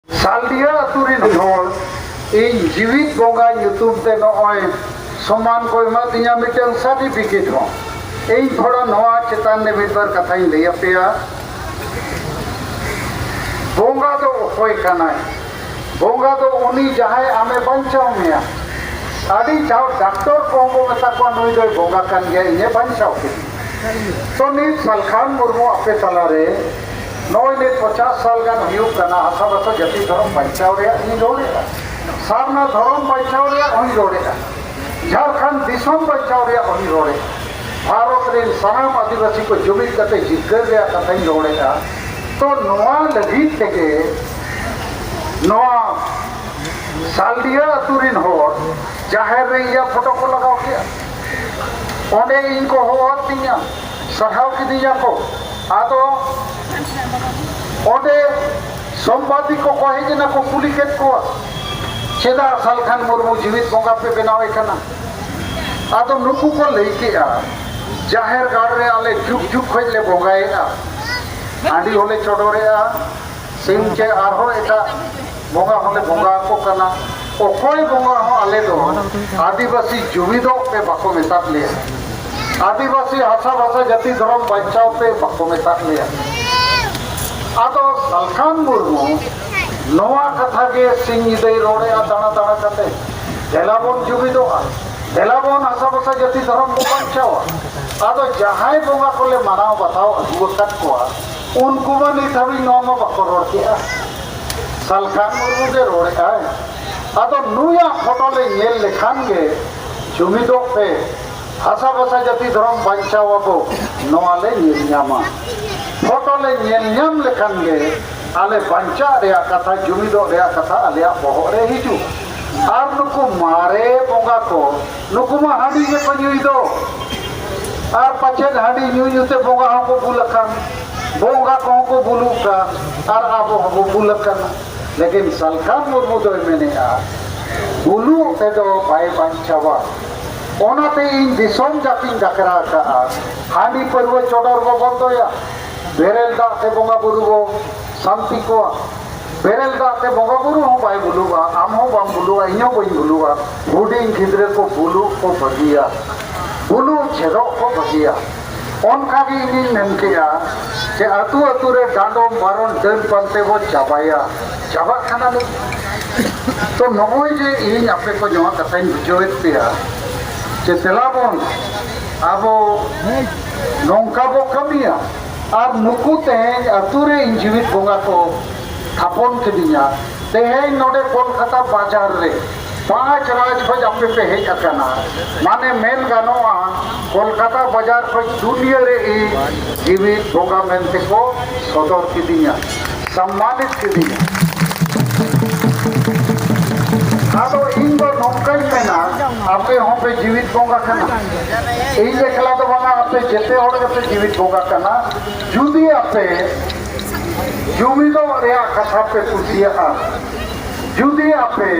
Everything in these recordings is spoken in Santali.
ᱥᱟᱞᱰᱤᱭᱟ ᱟᱹᱛᱩ ᱨᱤᱱ ᱦᱚᱲ ᱤᱧ ᱡᱤᱣᱤᱫ ᱵᱚᱸᱜᱟ ᱧᱩᱛᱩᱢ ᱛᱮ ᱱᱚᱜᱼᱚᱭ ᱥᱚᱢᱟᱱ ᱠᱚ ᱮᱢᱟ ᱫᱤᱧᱟ ᱢᱤᱫᱴᱟᱝ ᱥᱟᱨᱴᱤᱯᱷᱤᱠᱮᱴ ᱦᱚᱸ ᱤᱧ ᱛᱷᱚᱲᱟ ᱱᱚᱣᱟ ᱪᱮᱛᱟᱱ ᱨᱮ ᱢᱤᱫ ᱵᱟᱨ ᱠᱟᱛᱷᱟᱧ ᱞᱟᱹᱭ ᱟᱯᱮᱭᱟ ᱵᱚᱸᱜᱟ ᱫᱚ ᱚᱠᱚᱭ ᱠᱟᱱᱟᱭ ᱵᱚᱸᱜᱟ ᱫᱚ ᱩᱱᱤ ᱡᱟᱦᱟᱸᱭ ᱟᱢᱮ ᱵᱟᱧᱪᱟᱣ ᱢᱮᱭᱟ ᱟᱹᱰᱤ ᱡᱟᱣ ᱰᱟᱠᱛᱚᱨ ᱠᱚᱦᱚᱸ ᱵᱚ ᱢᱮᱛᱟ ᱠᱚᱣᱟ ᱱᱩᱭ ᱫᱚᱭ ᱵᱚᱸᱜᱟ ᱠᱟᱱ ᱜᱮᱭᱟ ᱤᱧᱮ ᱵᱟᱧᱪᱟᱣ ᱠᱮᱫᱤᱧᱟ ᱛᱚ ᱱᱤᱛ ᱥᱟᱞᱠᱷᱟᱱ ᱢᱩᱨᱢᱩ ᱟᱯᱮ ᱛᱟᱞᱟᱨᱮ ᱱᱚᱜᱼᱚᱭ ᱱᱤᱛ ᱯᱚᱪᱟᱥ ᱥᱟᱞ ᱜᱟᱱ ᱦᱩᱭᱩᱜ ᱠᱟᱱᱟ ᱦᱟᱥᱟ ᱵᱷᱟᱥᱟ ᱡᱟᱹᱛᱤ ᱫᱷᱚᱨᱚᱢ ᱵᱟᱧᱪᱟᱣ ᱨᱮᱭᱟᱜ ᱤᱧ ᱨᱚᱲᱮᱫᱼᱟ ᱥᱟᱨᱱᱟ ᱫᱷᱚᱨᱚᱢ ᱵᱟᱧᱪᱟᱣ ᱨᱮᱭᱟᱜ ᱦᱚᱧ ᱨᱚᱲᱮᱫᱼᱟ ᱡᱷᱟᱲᱠᱷᱚᱸᱰ ᱫᱤᱥᱚᱢ ᱵᱟᱧᱪᱟᱣ ᱨᱮᱭᱟᱜ ᱦᱚᱧ ᱨᱚᱲᱮᱫᱼᱟ ᱵᱷᱟᱨᱚᱛ ᱨᱮᱱ ᱥᱟᱱᱟᱢ ᱟᱹᱫᱤᱵᱟᱹᱥᱤ ᱠᱚ ᱡᱩᱢᱤᱫ ᱠᱟᱛᱮ ᱡᱤᱛᱠᱟᱹᱨ ᱨᱮᱭᱟᱜ ᱠᱟᱛᱷᱟᱧ ᱨᱚᱲᱮᱫᱼᱟ ᱛᱚ ᱱᱚᱣᱟ ᱞᱟᱹᱜᱤᱫ ᱛᱮᱜᱮ ᱱᱚᱣᱟ ᱥᱟᱞᱰᱤᱦᱟᱹ ᱟᱹᱛᱩ ᱨᱮᱱ ᱦᱚᱲ ᱡᱟᱦᱮᱨ ᱨᱮ ᱤᱧᱟᱹᱜ ᱯᱷᱳᱴᱳ ᱠᱚ ᱞᱟᱜᱟᱣ ᱠᱮᱫᱼᱟ ᱚᱸᱰᱮ ᱤᱧ ᱠᱚ ᱦᱚᱦᱚᱣᱟᱫ ᱛᱤᱧᱟᱹ ᱥᱟᱦᱟᱣ ᱠᱤᱫᱤᱧᱟ ᱠᱚ ᱟᱫᱚ ᱚᱸᱰᱮ ᱥᱚᱢᱵᱟᱫᱤ ᱠᱚ ᱠᱚ ᱦᱮᱡ ᱮᱱᱟ ᱠᱚ ᱠᱩᱞᱤ ᱠᱮᱫ ᱠᱚᱣᱟ ᱪᱮᱫᱟᱜ ᱥᱟᱞᱠᱷᱟᱱ ᱢᱩᱨᱢᱩ ᱡᱤᱣᱤᱫ ᱵᱚᱸᱜᱟ ᱯᱮ ᱵᱮᱱᱟᱣᱮ ᱠᱟᱱᱟ ᱟᱫᱚ ᱱᱩᱠᱩ ᱠᱚ ᱞᱟᱹᱭ ᱠᱮᱜᱼᱟ ᱡᱟᱦᱮᱨ ᱜᱟᱲ ᱨᱮ ᱟᱞᱮ ᱡᱩᱜᱽ ᱡᱩᱜᱽ ᱠᱷᱚᱱ ᱞᱮ ᱵᱚᱸᱜᱟᱭᱮᱫᱼᱟ ᱦᱟᱺᱰᱤ ᱦᱚᱸᱞᱮ ᱪᱚᱰᱚᱨᱮᱜᱼᱟ ᱥᱤᱢ ᱪᱮ ᱟᱨᱦᱚᱸ ᱮᱴᱟᱜ ᱵᱚᱸᱜᱟ ᱦᱚᱸᱞᱮ ᱵᱚᱸᱜᱟ ᱟᱠᱚ ᱠᱟᱱᱟ ᱚᱠᱚᱭ ᱵᱚᱸᱜᱟ ᱦᱚᱸ ᱟᱞᱮ ᱫᱚ ᱟᱹᱫᱤᱵᱟᱹᱥᱤ ᱡᱩᱢᱤᱫᱚᱜ ᱯᱮ ᱵᱟᱠᱚ ᱢᱮᱛᱟᱫ ᱞᱮᱭᱟ ᱟᱹᱫᱤᱵᱟᱹᱥᱤ ᱦᱟᱥᱟ ᱵᱷᱟᱥᱟ ᱡᱟᱹᱛᱤ ᱫᱷᱚᱨᱚᱢ ᱵᱟᱧᱪᱟᱣ ᱯᱮ ᱵᱟᱠᱚ ᱢᱮᱛᱟᱫ ᱞᱮᱭᱟ ᱟᱫᱚ ᱥᱟᱞᱠᱷᱟᱱ ᱢᱩᱨᱢᱩ ᱱᱚᱣᱟ ᱠᱟᱛᱷᱟ ᱜᱮ ᱥᱤᱧ ᱧᱤᱫᱟᱹᱭ ᱨᱚᱲᱮᱜᱼᱟ ᱫᱟᱬᱟ ᱫᱟᱬᱟ ᱠᱟᱛᱮ ᱫᱮᱞᱟ ᱵᱚᱱ ᱡᱩᱢᱤᱫᱚᱜᱼᱟ ᱫᱮᱞᱟ ᱵᱚᱱ ᱦᱟᱥᱟ ᱵᱷᱟᱥᱟ ᱡᱟᱹᱛᱤ ᱫᱷᱚᱨᱚᱢ ᱵᱚᱱ ᱵᱟᱧᱪᱟᱣᱟ ᱟᱫᱚ ᱡᱟᱦᱟᱸᱭ ᱵᱚᱸᱜᱟ ᱠᱚᱞᱮ ᱢᱟᱱᱟᱣ ᱵᱟᱛᱟᱣ ᱟᱹᱜᱩ ᱟᱠᱟᱫ ᱠᱚᱣᱟ ᱩᱱᱠᱩ ᱢᱟ ᱱᱤᱛ ᱦᱟᱹᱵᱤᱡ ᱱᱚᱣᱟ ᱢᱟ ᱵᱟᱠᱚ ᱨᱚᱲ ᱠᱮᱜᱼᱟ ᱥᱟᱞᱠᱷᱟᱱ ᱢᱩᱨᱢᱩ ᱜᱮ ᱨᱚᱲᱮᱜᱼᱟᱭ ᱟᱫᱚ ᱱᱩᱭᱟᱜ ᱯᱷᱳᱴᱳ ᱞᱮ ᱧᱮᱞ ᱞᱮᱠᱷᱟᱱ ᱜᱮ ᱡᱩᱢᱤᱫᱚᱜ ᱯᱮ ᱵᱷᱟᱥᱟ ᱵᱷᱟᱥᱟ ᱡᱟᱹᱛᱤ ᱫᱷᱚᱨᱚᱢ ᱵᱟᱧᱪᱟᱣ ᱟᱵᱚ ᱱᱚᱣᱟ ᱞᱮ ᱧᱮᱞ ᱧᱟᱢᱟ ᱯᱷᱳᱴᱳ ᱞᱮ ᱧᱮᱞ ᱧᱟᱢ ᱞᱮᱠᱷᱟᱱ ᱜᱮ ᱟᱞᱮ ᱵᱟᱧᱪᱟᱜ ᱨᱮᱭᱟᱜ ᱠᱟᱛᱷᱟ ᱡᱩᱢᱤᱫᱚᱜ ᱨᱮᱭᱟᱜ ᱠᱟᱛᱷᱟ ᱟᱞᱮᱭᱟᱜ ᱵᱚᱦᱚᱜ ᱨᱮ ᱦᱤᱡᱩᱜᱼᱟ ᱟᱨ ᱱᱩᱠᱩ ᱢᱟᱨᱮ ᱵᱚᱸᱜᱟ ᱠᱚ ᱱᱩᱠᱩ ᱢᱟ ᱦᱟᱺᱰᱤ ᱜᱮᱠᱚ ᱧᱩᱭ ᱫᱚ ᱟᱨ ᱯᱟᱪᱮᱫ ᱦᱟᱺᱰᱤ ᱧᱩ ᱧᱩᱛᱮ ᱵᱚᱸᱜᱟ ᱦᱚᱸᱠᱚ ᱵᱩᱞ ᱟᱠᱟᱱ ᱵᱚᱸᱜᱟ ᱠᱚᱦᱚᱸ ᱠᱚ ᱵᱩᱞᱩᱜ ᱠᱟᱱ ᱟᱨ ᱟᱵᱚ ᱦᱚᱸᱵᱚ ᱵᱩᱞ ᱟᱠᱟᱱᱟ ᱞᱮᱠᱤᱱ ᱥᱟᱞᱠᱷᱟᱱ ᱢᱩᱨᱢᱩ ᱫᱚᱭ ᱢᱮᱱᱮᱜᱼᱟ ᱵᱩᱞᱩᱜ ᱛᱮᱫᱚ ᱵᱟᱭ ᱵᱟᱧᱪᱟᱣᱟ ᱚᱱᱟᱛᱮ ᱤᱧ ᱫᱤᱥᱚᱢ ᱡᱟᱹᱛᱤᱧ ᱰᱟᱠᱨᱟ ᱟᱠᱟᱜᱼᱟ ᱦᱟᱺᱰᱤ ᱯᱟᱹᱨᱣᱟᱹ ᱪᱚᱰᱚᱨ ᱵᱚ ᱵᱚᱱᱫᱚᱭᱟ ᱵᱮᱨᱮᱞ ᱫᱟᱜ ᱛᱮ ᱵᱚᱸᱜᱟ ᱵᱩᱨᱩ ᱵᱚ ᱥᱟᱱᱛᱤ ᱠᱚᱣᱟ ᱵᱮᱨᱮᱞ ᱫᱟᱜ ᱛᱮ ᱵᱚᱸᱜᱟ ᱵᱩᱨᱩ ᱦᱚᱸ ᱵᱟᱭ ᱵᱩᱞᱩᱜᱼᱟ ᱟᱢ ᱦᱚᱸ ᱵᱟᱢ ᱵᱩᱞᱩᱜᱼᱟ ᱤᱧ ᱦᱚᱸ ᱵᱟᱹᱧ ᱵᱩᱞᱩᱜᱼᱟ ᱦᱩᱰᱤᱧ ᱜᱤᱫᱽᱨᱟᱹ ᱠᱚ ᱵᱩᱞᱩᱜ ᱠᱚ ᱵᱷᱟᱹᱜᱤᱭᱟ ᱵᱩᱞᱩᱜ ᱪᱮᱫᱚᱜ ᱠᱚ ᱵᱷᱟᱹᱜᱤᱭᱟ ᱚᱱᱠᱟ ᱜᱮ ᱤᱧᱤᱧ ᱢᱮᱱ ᱠᱮᱜᱼᱟ ᱡᱮ ᱟᱹᱛᱩ ᱟᱹᱛᱩ ᱨᱮ ᱰᱟᱸᱰᱚᱢ ᱵᱟᱨᱚᱱ ᱰᱟᱹᱱ ᱯᱟᱱᱛᱮ ᱵᱚ ᱪᱟᱵᱟᱭᱟ ᱪᱟᱵᱟᱜ ᱠᱟᱱᱟ ᱱᱤᱛ ᱛᱚ ᱱᱚᱜᱼᱚᱭ ᱡᱮ ᱤᱧ ᱟᱯᱮ ᱠᱚ ᱱᱚᱣᱟ ᱠᱟᱛᱷᱟᱧ ᱵᱩᱡᱷᱟᱹᱣᱮᱫ ᱯᱮᱭᱟ ᱡᱮ ᱫᱮᱞᱟ ᱵᱚᱱ ᱟᱵᱚ ᱱᱚᱝᱠᱟ ᱵᱚ ᱠᱟᱹᱢᱤᱭᱟ ᱟᱨ ᱱᱩᱠᱩ ᱛᱮᱦᱮᱧ ᱟᱹᱛᱩ ᱨᱮ ᱤᱧ ᱡᱤᱣᱤᱫ ᱵᱚᱸᱜᱟ ᱠᱚ ᱛᱷᱟᱯᱚᱱ ᱠᱤᱫᱤᱧᱟ ᱛᱮᱦᱮᱧ ᱱᱚᱰᱮ ᱠᱳᱞᱠᱟᱛᱟ ᱵᱟᱡᱟᱨ ᱨᱮ ᱯᱟᱸᱪ ᱨᱟᱡᱽ ᱠᱷᱚᱡ ᱟᱯᱮ ᱯᱮ ᱦᱮᱡ ᱟᱠᱟᱱᱟ ᱢᱟᱱᱮ ᱢᱮᱱ ᱜᱟᱱᱚᱜᱼᱟ ᱠᱳᱞᱠᱟᱛᱟ ᱵᱟᱡᱟᱨ ᱠᱷᱚᱡ ᱫᱩᱱᱤᱭᱟᱹ ᱨᱮ ᱤᱧ ᱡᱤᱣᱤᱫ ᱵᱚᱸᱜᱟ ᱢᱮᱱᱛᱮ ᱠᱚ ᱥᱚᱫᱚᱨ ᱠᱤᱫᱤᱧᱟ ᱥᱚᱢᱢᱟᱱᱤᱛ ᱠᱤᱫᱤᱧᱟ ᱟᱫᱚ ᱤᱧ ᱫᱚ ᱱᱚᱝᱠᱟᱧ ᱢᱮᱱᱟ ᱟᱯᱮ ᱦᱚᱸᱯᱮ ᱡᱤᱣᱤᱫ ᱵᱚᱸᱜᱟ ᱠᱟᱱᱟ ᱤᱧ ᱮᱠᱞᱟ ᱫᱚ ᱵᱟᱝᱟ ᱟᱯᱮ ᱡᱮᱛᱮ ᱦᱚᱲ ᱜᱮᱯᱮ ᱡᱤᱣᱤᱫ ᱵᱚᱸᱜᱟ ᱠᱟᱱᱟ ᱡᱩᱫᱤ ᱟᱯᱮ ᱡᱩᱢᱤᱫᱚᱜ ᱨᱮᱭᱟᱜ ᱠᱟᱛᱷᱟ ᱯᱮ ᱠᱩᱥᱤᱭᱟᱜᱼᱟ ᱡᱩᱫᱤ ᱟᱯᱮ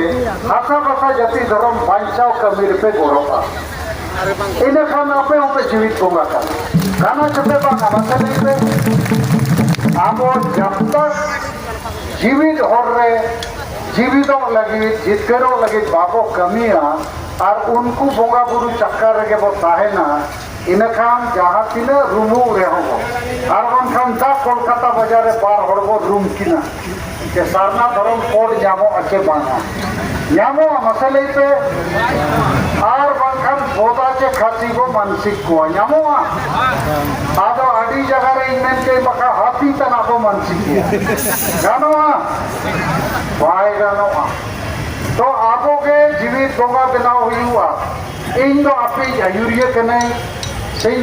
ᱦᱟᱥᱟ ᱵᱷᱟᱥᱟ ᱡᱟᱹᱛᱤ ᱫᱷᱚᱨᱚᱢ ᱵᱟᱧᱪᱟᱣ ᱠᱟᱹᱢᱤ ᱨᱮᱯᱮ ᱜᱚᱲᱚᱜᱼᱟ ᱤᱱᱟᱹ ᱠᱷᱟᱱ ᱟᱯᱮ ᱦᱚᱸᱯᱮ ᱡᱤᱣᱤᱫ ᱵᱚᱸᱜᱟ ᱠᱟᱱᱟ ᱠᱟᱱᱟ ᱪᱚᱯᱮ ᱵᱟᱝᱟ ᱢᱟᱥᱮ ᱞᱟᱹᱭ ᱯᱮ ᱟᱵᱚ ᱡᱟᱵᱛᱟ ᱡᱤᱣᱤᱫ ᱦᱚᱨ ᱨᱮ ᱡᱤᱣᱤᱫᱚᱜ ᱞᱟᱹᱜᱤᱫ ᱡᱤᱛᱠᱟᱹᱨᱚᱜ ᱞᱟᱹᱜᱤᱫ ᱵᱟᱵᱚ ᱠᱟᱹᱢᱤᱭᱟ ᱟᱨ ᱩᱱᱠᱩ ᱵᱚᱸᱜᱟ ᱵᱩᱨᱩ ᱪᱟᱠᱟ ᱨᱮᱜᱮ ᱵᱚ ᱛᱟᱦᱮᱱᱟ ᱤᱱᱟᱹ ᱠᱷᱟᱱ ᱡᱟᱦᱟᱸ ᱛᱤᱱᱟᱹᱜ ᱨᱩᱢᱩᱜ ᱨᱮᱦᱚᱸ ᱵᱚ ᱟᱨ ᱵᱟᱝᱠᱷᱟᱱ ᱫᱟᱜ ᱠᱳᱞᱠᱟᱛᱟ ᱵᱟᱡᱟᱨ ᱨᱮ ᱵᱟᱨ ᱦᱚᱲ ᱵᱚ ᱨᱩᱢ ᱠᱤᱱᱟ ᱡᱮ ᱥᱟᱨᱱᱟ ᱫᱷᱚᱨᱚᱢ ᱠᱳᱰ ᱧᱟᱢᱚᱜᱼᱟ ᱪᱮ ᱵᱟᱝᱟ ᱧᱟᱢᱚᱜᱼᱟ ᱢᱟᱥᱮ ᱞᱟᱹᱭ ᱯᱮ ᱟᱨ ᱵᱟᱝᱠᱷᱟᱱ ᱥᱚᱫᱟ ᱪᱮ ᱠᱷᱟᱹᱥᱤ ᱠᱚ ᱢᱟᱱᱥᱤᱠ ᱠᱚᱣᱟ ᱧᱟᱢᱚᱜᱼᱟ ᱟᱫᱚ ᱟᱹᱰᱤ ᱡᱟᱭᱜᱟ ᱨᱮ ᱤᱧ ᱢᱮᱱ ᱠᱮᱫ ᱵᱟᱠᱷᱟᱱ ᱦᱟᱹᱛᱤ ᱛᱟᱱᱟᱜ ᱠᱚ ᱢᱟᱱᱥᱤᱠ ᱠᱚᱣᱟ ᱜᱟᱱᱚᱜᱼᱟ ᱵᱟᱭ ᱜᱟᱱᱚᱜᱼᱟ ᱛᱚ ᱟᱵᱚ ᱜᱮ ᱡᱤᱣᱤ ᱵᱚᱸᱜᱟ ᱵᱮᱱᱟᱣ ᱦᱩᱭᱩᱜᱼᱟ ᱤᱧ ᱫᱚ ᱟᱯᱮ ᱟᱹᱭᱩᱨᱤᱭᱟᱹ ᱠᱟᱹᱱᱟᱹᱧ ᱥᱮᱧ